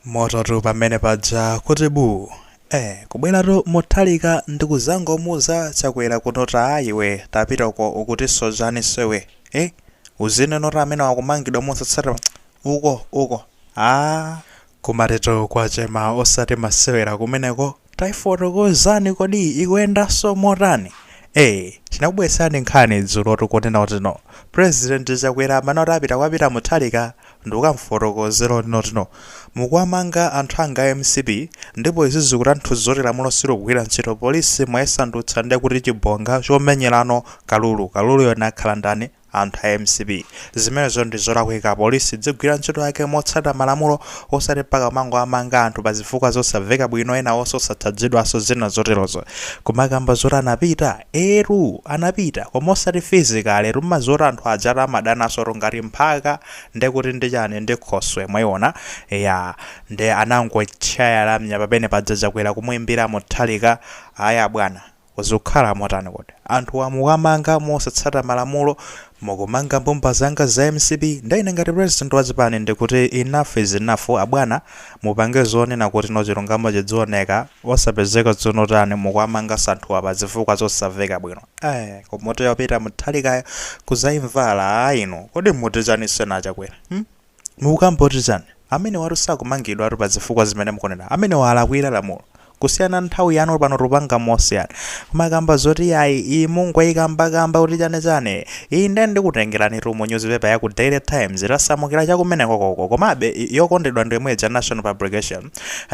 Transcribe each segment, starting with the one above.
Mototu pamene paja kuti buu. Eh kubweratu Mutharika ndikuzangomuuza Chakwera kunoti aa iwe tapita uko ukutiso chaniso iwe eh uzinenoti amenewo akumangidwa mosatsata uko uko aa. Kumatitu kwatchema osati masewera kumeneko. Taifotokozani kodi ikuyendanso motani? Eee tinakubweretserani nkhani dzulo tikunena kutino president Chakwera amanena kuti apita kwa Peter Mutharika ndikukamufotokozera kuti notino mukuwamanga anthu anga a mcp ndipo izi zikutanthuza kuti lamulo silugwira ntchito police mwayisandutsa ndekuti chibonga chomenyerano kalulu, kaluluyo akhala ndani? anthu a mcp. Zimenezo ndi zolakwika police idzigwira ntchito yake motsata malamulo osati mpaka kumangowamanga anthu pa zifukwa zosaveka bwino enawonso osatchajidwanso zina zoterozo. Kumakamba zoti anapita eetu anapita koma osati physically tumadziwa kuti anthu ajatu amadanansotu ngati mphaka nde kuti ndi chani ndi khoswe mwaiona eya nde anangochaya lamya pamene paja chakwera kumuimbira Mutharika ayi abwana Zukhala motani kodi? Anthuwa mukuwamanga mosatsata malamulo, mukumanga mbumba zanga za mcp, nde ine ngati president wa chipani ndikuti enough is enough abwana, mupange zonena kuti no chilungamo chidzioneka, osapezeka zunotani mukuwamangaso anthuwa pa zifukwa zosaveka bwino aah koma mutu wa peter Mutharikayo kuzaimvala aah inu kodi muti chaninso a Chakwera hmm. Mukukamba zoti chani? Amenewatu sakumangidwatu pa zifukwa zimene mukunena. Amenewa alakwira lamulo. Kusiyana nthawi yanu pano tikupanga mosiyana. Kumakamba zoti iyayi iyi mungoikamba kamba kuti chani chani. Iyi nde ndikutengeranitu mu newspaper ya ku Daily Times tasamukira cha kumenekoko uko. Komabe yokondedwa ndi yomwe ija nation publication.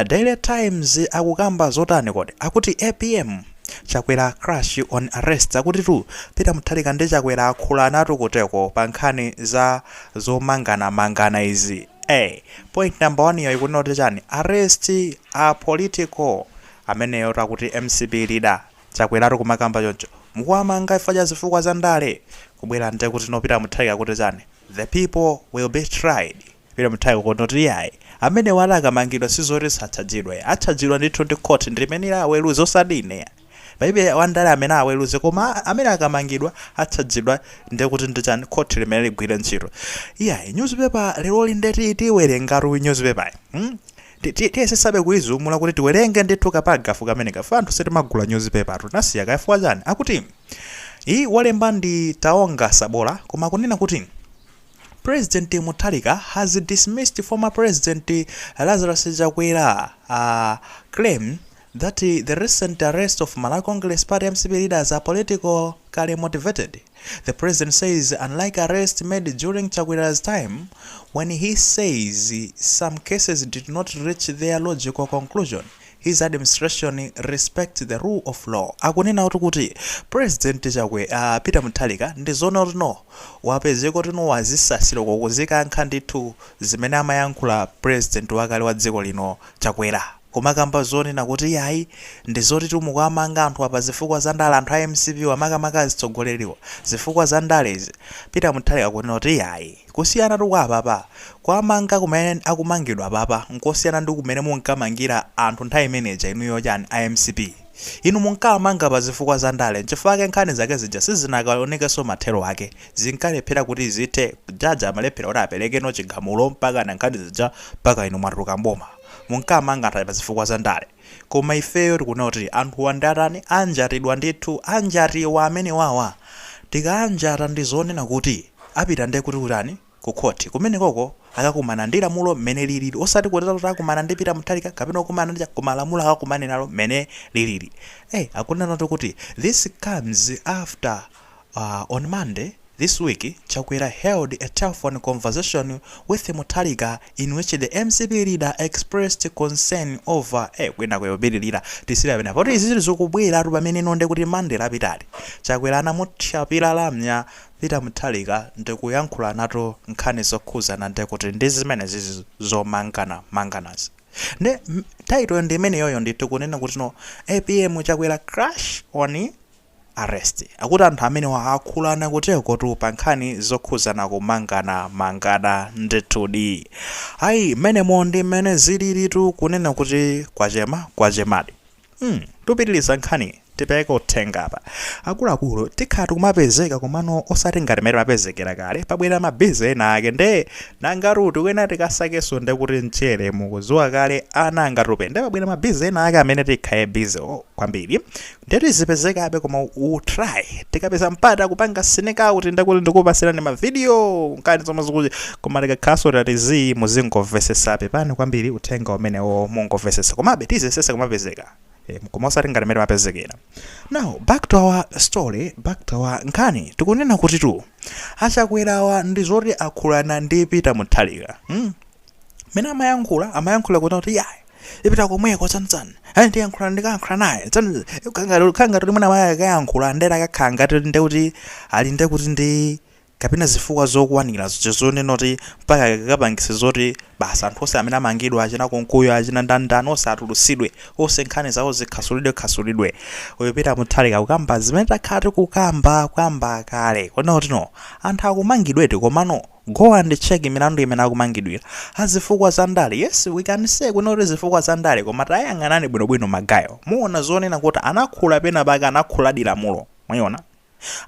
Daily Times akukamba zotani kodi? Akuti apm Chakwera clash on arrests. Akutitu Peter Mutharika ndi Chakwera akhulanatu kutereko pa nkhani za. zomangana mangana izi ee point number 1 yo ikunena kuti chani arrests are political ameneyotu akuti mcp leader chakweratu kumakamba choncho mukuwamanga chifukwa cha zifukwa za ndale kubwera nde kuti no peter mutharika akuti chani the people will be tried peter mutharika kuti noti iyayi amenewatu akamangidwa sizoti satchajidwa atchajidwa ndithu ndi court ndilimene liweruze osati ine Palibe wandale amene aweluze koma amene akamangidwa atchajidwa nde kuti ndi chani court limene ligwire ntchito iyayi news paper leloli nde tiwelengatu news paper yi hmm tiyesesabe kuizumula kuti tiwelenge ndithu ka paragraph kameneka chifukwa anthu sitimagula news paper tu tinasiya kaya chifukwa chani akuti yi walemba ndi Taonga Sabola koma akunena kuti President Mutharika has dismissed former president Lazarus Chakwera uh, claim that the recent arrest of Malawi Congress Party mcp leaders are politically motivated. The president says unlike arrests made during Chakwera's time when he says some cases did not reach their logical conclusion, his administration respects the rule of law. Akunena kuti kuti President Chakwe Peter Mutharika ndi zoona kutino wapezeka kutino wazisasira uko kuzikankha ndithu zimene amayankhula president wakale wa dziko lino Chakwera. Kumakamba zonena kuti yayi ndi zotitu mukuwamanga anthuwa pa zifukwa za ndale anthu a mcp wa makamaka atsogoleriwa zifukwa za ndale izi Peter Muthalika kunena kuti yayi kusiyanatu kwa apapa kuwamanga kumene akumangidwa apapa nkosiyana ndi kumene munkamangira anthu nthawi imene ija inuyo chani a mcp inu munkawamanga pa zifukwa za ndale nchifukwa chake nkhani zake zija sizinakaonekenso mathero ake zinkalephera kuti zithe judge amalephera kuti aperekeno chigamulo mpakana nkhani zija mpaka inu mwatuluka mboma. munkamanga anthu aja pa zifukwa za ndale koma ifeyo tikuona kuti anthuwa ndi atani anjatidwa ndithu anjatidwa amenewawa tikaanjata ndi zonena kuti apita ndekuti kutani ku khoti kumenekoko akakumana ndi lamulo mmene lilili osati kunena kuti akumana ndi Peter Mutharika kapena kukumana ndi cha koma lamulo akakumane nalo mmene lilili eh akunenatu kuti this comes after On Monday this week, Chakwera held a telephone conversation with Mutharika in which the mcp leader expressed concern over eh kwinaku yopitilira tisiyira pena poti izizi zikubweratu pameneno ndekuti Monday lapitali Chakwera anamuthyapira lamya Peter Mutharika ndikuyankhulanatu nkhani zokhudzana ndekuti ndi zimenezizi zomangana manganazi nde title ndi imeneyoyo ndithu kunena kutino apm Chakwera clash on arrest akuti anthu amenewa akhulana kuteokotu pa nkhani zokhudzana kumangana mangana ndithudi ayi mmenemo ndi mmene zililitu kunena kuti kwachema kwachemadi mm, tupitiliza nkhani tipeke uthenga apa akuluakulu tikhala tikumapezeka komano osati ngati mmene timapezekera kale pabwera mabize ena ake nde nangatu tikuyenera tikasakenso nde kuti mchere mukudziwa kale ana angatupe nde pabwera mabize ena ake amene tikhale bize kwambiri Nde tizipezekabe koma we will try tikapeza mpata kupanga sneak out ndekuti ndikupatsirani ma video nkhani zomwe zikuchi koma tikakhalanso tati zii muzingomvetsetsa pepani kwambiri uthenga umenewo mungomvetsetsa komabe tiziyesetsa kumapezeka eh, koma osati ngati mmene timapezekera now back to our story back to our nkhani tikunena kutitu achakwerawa ndi zoti akhulana ndi peter muthalika hmm? mmene amayankhula amayankhula kunena kuti yayi ndipita komweko tsanitsani ayi ndiyankhula ndikayankhula naye tsani kaya ngati mmene amaya akayankhula ndera akakhala ngati nde kuti ali nde kuti ndi kapena zifukwa zokwanira zo- zonena kuti mpaka akapangise zoti basi anthu onse amene amangidwa achina Nkunkuyu achina ndandani onse atulutsidwe onse nkhani zawo zikhasulidwe khasulidwe uyu peter mutharika kukamba zimene takhala tikukamba kuyamba kale kunena kuti no anthu akumangidwedi komano Go and check milandu imene akumangidwila. Azifukwa za ndale yes we can say kunena kuti zifukwa za ndale koma tayang'anani bwino bwino ma guy wo muona zonena kuti anakhula penapake anakhuladi lamulo mwayiona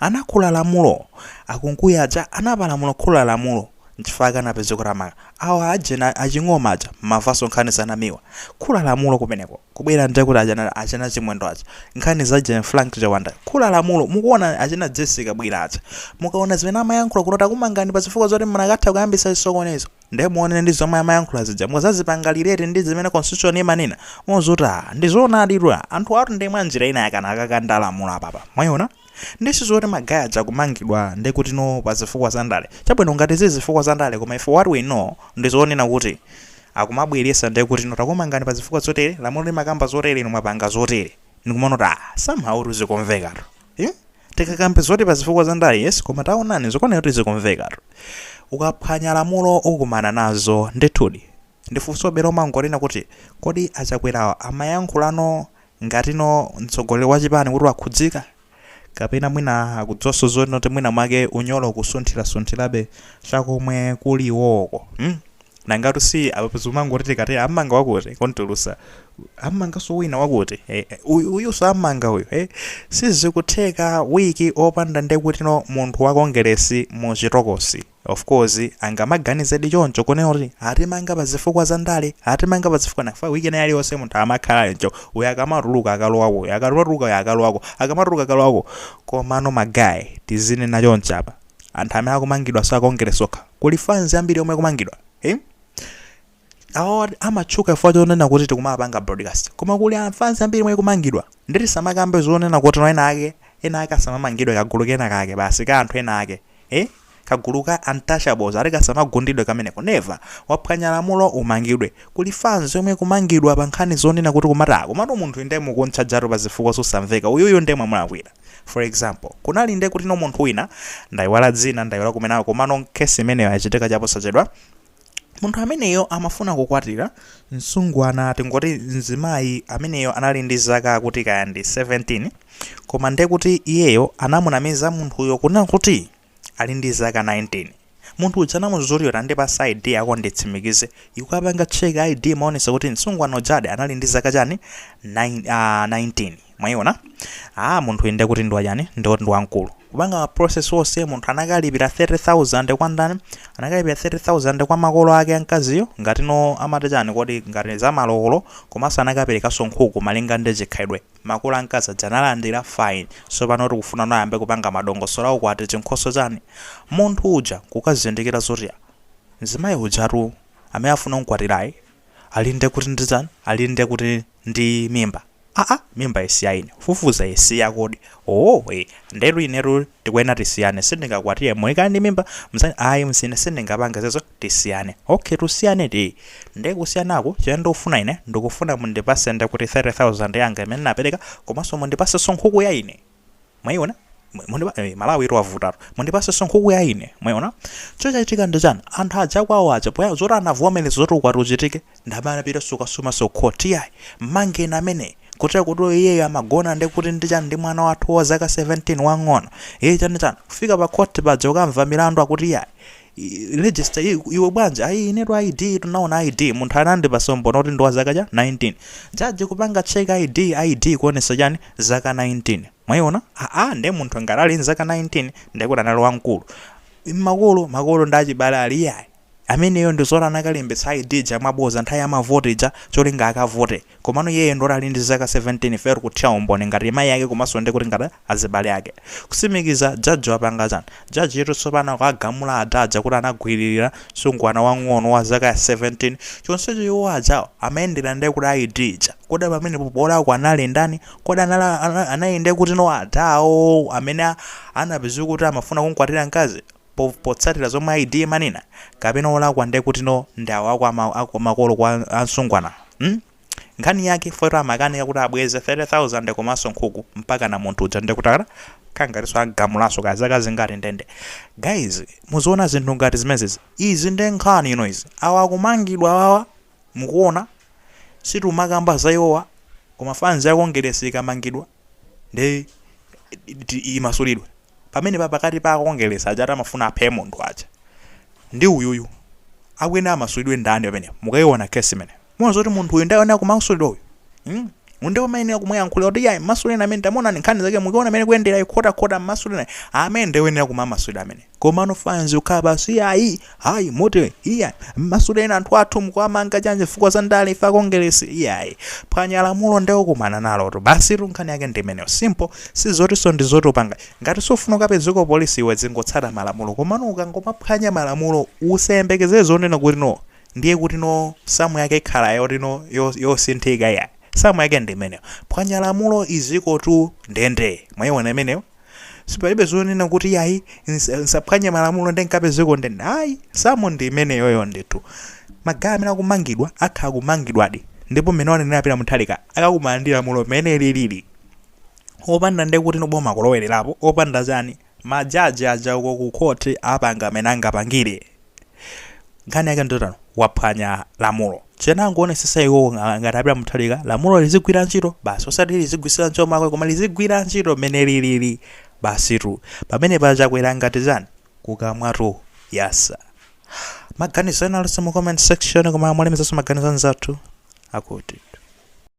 anakhula lamulo a Nkunkuyu aja anapalamula khula lamulo nchifukwa anapezeka kuti awamanga awa ajena a Ching'oma aja munamvanso nkhani za Namiwa Kukhula lamulo kumeneko. Kubwera nde kuti achina, achina Chimwendo aja. Nkhani za Jane Frank Chawanda. Kukhula lamulo. Mukuona achina Jessie Kabwila aja. Mukaona zimene amayankhula kuti no takumangani pa zifukwa zoti munakatha kuyambitsa chisokonezo. Nde muone ndi zomwe amayankhula zija muzazipanga relate ndi zimene constitution imanena. Muziti ah ndi zoonaditu ah anthu awatu ndi mwa njira ina yake anakakanda lamulo apapa. Mwaiona? Nde si zoti ma guy aja kumangidwa nde kuti no pa zifukwa za ndale. Chabwino ngati zili zifukwa za ndale koma ife what we know ndi zonena kuti akumabweretsa nde kuti inu takumangani pazifukwa zotere lamulo limakamba zotere inu mwapanga zotere ndikumaona kuti aah somehow kuti zikumvekatu hmm? tikakambe zoti pazifukwa za ndale yes koma taonani zikuoneka kuti zikumvekatu ukaphwanya lamulo ukumana nazo ndithudi ndiye funso bero mangonena kuti kodi a Chakwerawa amayankhulano ngati no mtsogoleri wa chipani kuti wakhudzika kapena mwina akudziwanso zonena kuti mwina mwake unyolo ukusunthirasunthirabe cha komwe kuli iwowoko mm? nangatu si apa pezo umangoti tikati ammanga wakuti kumtulutsa ammanganso wina wakuti eh, eh, uyu- uyunso ammanga uyu eh? sizikutheka wiki opanda nde kuti no munthu wa kongeresi mu chitokosi Of course angamaganizedi choncho kunena kuti atimanga pa zifukwa za ndale, atimanga pa zifukwa nanga week ina iliyonse munthu amakhala choncho, uyu akamatuluka akalowako uyu, akamatuluka uyu akalowako, akamatuluka akalowako. Komano ma guy tizinena choncho apa, anthu amene akumangidwa si a Kongeresi okha, kuli fans ambiri yomwe ikumangidwa. Hmm? awa amatchuka chifukwa chonena kuti tikumawapanga broadcast koma kuli fans yambiri yomwe ikumangidwa nde tisamakambe zonena kuti no ena ake ena ake asamamangidwe kagulu kena kake basi ka anthu ena ake eh kagulu ka untouchables ati kasamagundidwe kameneko never waphwanya lamulo umangidwe kuli fans yomwe ikumangidwa pa nkhani zonena kuti kumati komatu munthu inu nde mukumtchajatu pa zifukwa zosamveka uyuyu nde mwamulakwira for example kunali nde kuti no munthu wina ndayiwala dzina ndayiwala kumeneko komano kesi imeneyo yachitika chaposachedwa Munthu ameneyo amafuna kukwatira mtsikana tingoti mzimayi ameneyo anali ndi zaka kuti kaya ndi 17 koma nde kuti iyeyo anamunamiza munthuyo kunena kuti ali ndi zaka 19 munthu uja anamuuza kuti iyo tandipatsa id yako nditsimikize kukapanga check id imaonesa kuti msungwana ujadi anali ndi zaka chani 9, uh, 19 mwaiona ah munthu inde kuti ndiwa chani ndi wamkulu kupanga ma process onse munthu anakalipira 30000 kwa ndani anakalipira 30000 kwa makolo ake amkaziyo ngati no amati chani kodi ngati za malowolo komanso anakaperekanso nkhuku malinga ndi chikhalidwe makolo amkazi aja analandira fine so pano tikufuna nayambe kupanga madongosolo a ukwati chinkhoso chani munthu uja kukazindikira zoti ya, mzimayi ujatu amene afuna kumkwatirayu alinde kuti ndi chani alinde kuti ndi mimba aa mimba isi ya ine kufufuza isi yake kodi owoo ee ndetu inetu tikuyenera tisiyane sindingakwatire mkazi ali ndi mimba mzani ayi nzine sindingapange zimenezo tisiyane ok tisiyane eti nde kusiyanako chimene ndikufuna ine ndikufuna mundipase ndekuti 30000 yanga imene napereka komanso mundipasenso nkhuku ya ine mwayiona Mu- mundipa- eh, malawi itu yavutatu mundipasenso nkhuku ya ine mwayiona chochachitika ndi chani anthu aja kwawo aja pofuna zoti anavomereza zoti ukwati uchitike ndamene anapita kukasumanso khoti yayi mmangeni amene kunena kuti iyeyo amagona ndi kuti ndi chani ndi mwana wathu wa zaka 17 wang'ono iye chani chani kufika pa khoti paja ukamva milandu akuti yayi i- register i- iwe bwanji ayi inetu id tunaona id munthu anandipasa umboni oti ndi wa zaka cha 19 jaji kupanga check id id kuonesa chani zaka 19 mwayiona aa nde munthu ngati ali nzaka 19 ndekuti anali wamkulu makolo makolo ndi achibale ali iyayi ameneyo ndizoti anakalembetsa id ija mwabodza nthawi ya mavoti ija cholinga akavote komano iyeyo ndoti ali ndi zaka 17 eti kuthira umboni ngati mayi ake komanso ndi kuti ngati azibale ake kutsimikiza judge wapanga chani judge yetu tsopano akuwagamula adha aja kuti anagwiririra msungwana wang'ono wa zaka ya 17 chonsecho iwo ajawo amayendera nde kuti ID ija kodi pamenepo wolakwa anali ndani kodi anali anali nde kuti no adha awo amene anapeza kuti amafuna kumkwatira mkazi po potsatira zomwe ID imanena kapena olakwa nde kuti no ndi awo akwa ma, akwa makolo kwa msungwana hmm? Nkhani yake yoti amakanika kuti abweze 30,000 komanso nkhuku mpakana munthu uja ndekuti akakhala ngatinso agamulanso kaya zaka zingati ndende. Guys muziona zinthu ngati zimenezi. Izi nde nkhani zina izi. Awa akumangidwa awawa mukuona. Sitimakamba za iwowa koma fanzi ya Kongeresi ikamangidwa. ndi imasulidwe pamene pa pakati pa akongeresi aja amafuna aphe munthu aja ndi uyuyu akuyenera amasulidwe ndani pamene mukayiona kesi imene muona zoti munthu uyu ndayenera kumasulidwa uyu mm? ndiye umayenera kumuyankhulira kuti yayi mmasuleni amene tamuonani nkhani zake mukuona mmene zikuyendera zikukhotakhota mmasuleni amene ndayenera kumasulidwa amene komano fans kukhala pansi iyayi hayi moti iya mmasuleni anthu athu mukuwamanga chanje chifukwa za ndale ife a Kongeresi iyayi phwanya lamulo nde ukumana nalotu basitu nkhani yake ndimeneyo simple si zotinso ndi zotopanga ngati sufuna ukapezeko polisi iwe zingotsata malamulo komano ukangomaphwanya malamulo usayembekezere zonena kuti no ndiye kuti no samu yake ikhala yoti no yo- yosinthika iyayi samu yake ndimeneyo phwanya lamulo izikotu ndende mwayiona imeneyo Sipalibe zonena kuti iyayi nsa- nsaphwanye malamulo ndi nkapezeke ku ndende. Ayi, samu ndi imeneyoyo ndithu. Magayi amene akumangidwa atha kumangidwadi. Ndipo mmene wanenera Peter Mutharika akakumana ndi lamulo mmene lilili. Opanda nde kuti no boma kulowererapo, opanda chani. Majaji aja uko ku court apanga mmene angapangire. nkhani yake ndi yotani waphwanya lamulo chonangoonesesa iwo ngati a Peter Mutharika lamulo lizigwira ntchito basi osati lizigwisira ntchito makwe koma lizigwira ntchito mmene lilili basitu pamene pachakwera ngati chani kukamwatu yasa maganizo ena alinso mu comment section koma mwalemekezanso maganizo anzathu akuti